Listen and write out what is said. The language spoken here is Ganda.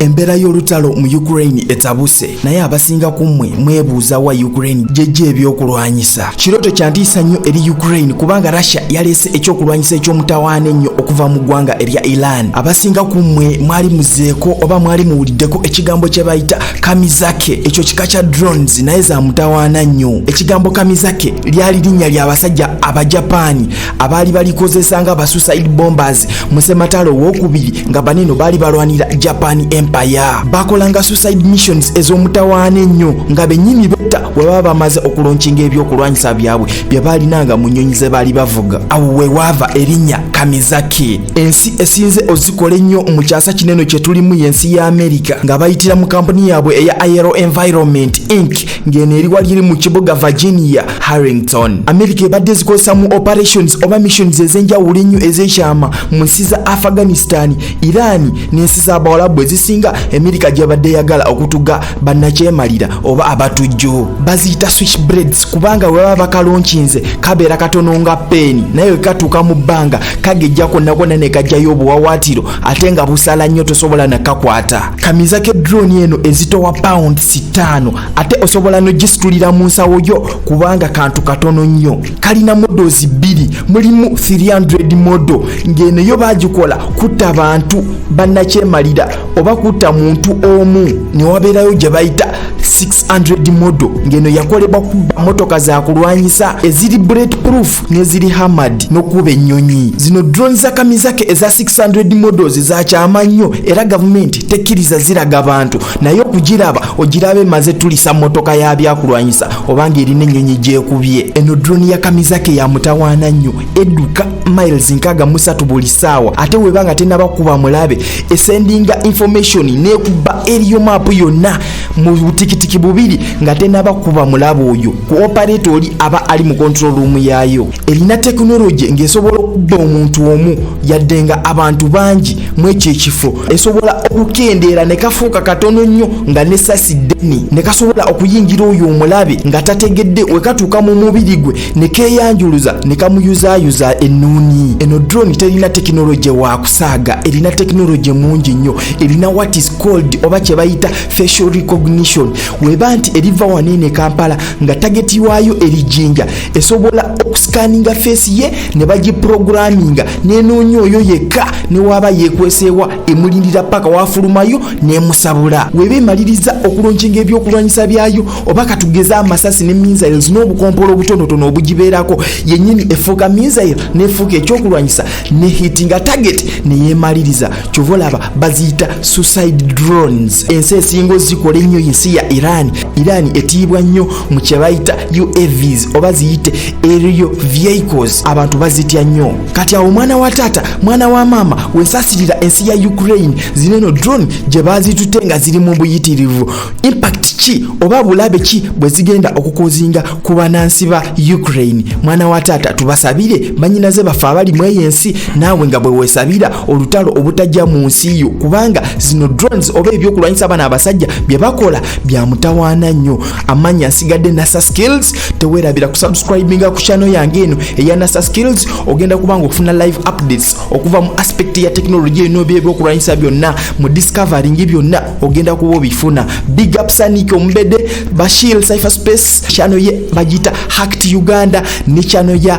Embeera y'olutalo mu Ukraine etabuse naye abasinga ku mmwe mwebuuza wa Ukraine gyejja ebyokulwanyisa. Kirooto kya ntiisa nnyo eri Ukraine kubanga Russia yaleese ekyokulwanyisa eky'omutawaana ennyo okuva mu ggwanga erya Iran. Abasinga ku mmwe mwali muzeeko oba mwali muwuliddeko ekigambo kye bayita kamizake. Ekyo kika kya drones naye za mutawaana nnyo. Ekigambo kamizake lyali linnya ly'abasajja Abajapaani abaali balikozesa nga basuicide bombers mu sematalo owokubiri nga baneno baali balwanira japan empire bakolanga suicide missions ez'omutawaana ennyo nga bennyini betta we baba bamaze okulonkinga ebyokulwanyisa byabwe bye baalinanga mu nnyonyi ze baali bavuga awo we waava erinnya kamizaki ensi esinze ozikola ennyo mu kyasa kineno kye tulimu y'ensi ya amerika nga bayitira mu kampuni yaabwe eya iro environment inc ng'eno eri wali eri mu kibuga virginia harrington amerika ebadde zikozesa mu operations oba missions ez'enjawulo ennyo ez'ekyama mu nsi za afghanistan iran n'ensi z'abawalabu ezisinga amerika gyebadde eyagala okutuga bannakyemalira oba abatujju baziyita switch breads kubanga bwe baba bakalonkinze kabeera katono nga peeni naye we katuuka mu bbanga kagejja konnakonna ne kajjayo obuwawaatiro ate nga busala nnyo tosobola nakakwata kamiza ke drone eno ezitowa pound sitaano ate osobola nogisitulira mu nsawo yo kubanga kantu katono nnyo kalina modozi bbiri mulimu 300 modo ng'eno yo bagikola kutta bantu bannakyemalira oba kutta muntu omu ne wabeerayo gye bayita 600 modo ng'eno yakolebwa kubba motoka za kulwanyisa eziri bullet proof neziri hamad nokuba ennyonyi zino drone za kamizake eza 600 models zakyama nnyo era gavumenti tekkiriza ziraga bantu naye okugiraba ogiraba emaze tulisa motoka ya byakulwanyisa obanga erina ennyonyi gyekubye eno drone ya kamizake ya mutawaana nnyo eduka miles nkaga musatu buli saawa ate weba nga tenaba kuba mulabe esendinga information nekuba eriyo maapu yonna mu butikitiki bubiri nga tenaba kuba mulabe oyo ku operate oli aba ali mu control room yaayo erina tekinologi ng'esobola okudda omuntu omu yadde nga abantu bangi mu ekyo ekifo esobola okukendeera ne kafuuka katono nnyo nga nesasi ddeni ne kasobola okuyingira oyo omulabe nga tategedde wekatuuka mu mubiri gwe ne keeyanjuluza ne kamuyuzaayuza ennuuni eno drone terina tekinologi wa kusaaga erina tekinologi mungi nnyo erina what is called oba kye bayita facial recognition weba nti eriva wanene kampala nga tageti waayo eri jinja esobola okusikaninga feesi ye ne bagiproguraminga nenoonya oyo yekka newaaba yekweseewa emulindira paka wafulumayo nemusabula weba emaliriza okulonkinga ebyokulwanyisa byayo oba katugeze amasasi ne missiles n'obukompolo obutonotono obugibeerako yenyini efuuka missiles nefuuka ekyokulwanyisa nehitinga tageti neyemaliriza kyova olaba baziyita suicide drones ensi esinga ozikola ennyo yensi ya iran iran etiibwa nnyo mu kyebayita uavs oba ziyite aerial vehicles abantu bazitya nnyo kati awo omwana wa taata mwana wa maama wensasirira ensi ya ukraine zino eno drone gye bazitute nga ziri mu buyitirivu impact ki oba bulabe ki bwe zigenda okukozinga ku banansi ba ukraine mwana wa taata tubasabire banyinaze baffe abali mu eyo ensi naawe nga bwe weesabira olutalo obutajja mu nsi yo kubanga zino drones oba ebyokulwanyisa abana abasajja bye bakola bya mutawaana nnyo amaanyi asigadde nasa skills teweerabira kusubscribinga ku channel yange eno eya nasa skills ogenda kubanga okufuna live updates okuva mu aspect ya technology eno byebyokulwanyisa byonna mu discovering byonna ogenda kuba obifuna big up sanik omumbede bashil cypher space channel ye bagiyita hacked uganda ne channel ya